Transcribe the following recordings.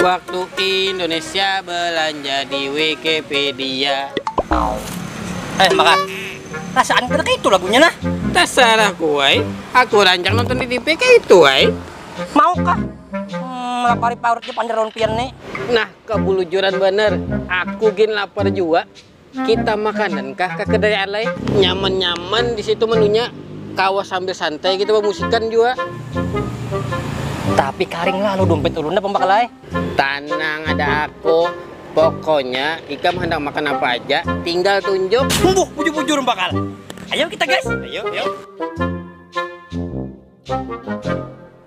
Waktu Indonesia belanja di Wikipedia. Eh, maka rasaan kita kayak itu lagunya nah. Terserah kuai, aku rancang nonton di TV kayak itu ai. Maukah? Hmm, lapari paurutnya pander lawan pian nih. Nah, kebulujuran bener, aku gin lapar jua. Kita makanan kah ka kedai alai? Nyaman-nyaman di situ menunya, kawa sambil santai kita bamusikan jua. Tapi karing lalu dumpit ulun dah pang bakalai. Tanang ada aku, pokonya ikam handak makan apa aja tinggal tunjuk. Humbuh, bujur-bujur bakal. Ayo kita guys. Ayo, ayo.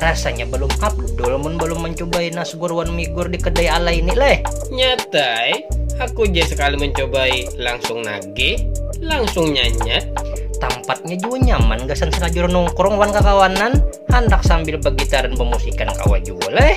Rasanya belum abdul mun belum mencobai nasgur wan migur di kedai ala ini leh. Nyatai, aku ja sekali mencobai langsung nagih, langsung nyanyat. Tampatnya jua nyaman gasan salajur nongkrong wan kakawanan, handak sambil begitaran bemusikan kawa jua leh.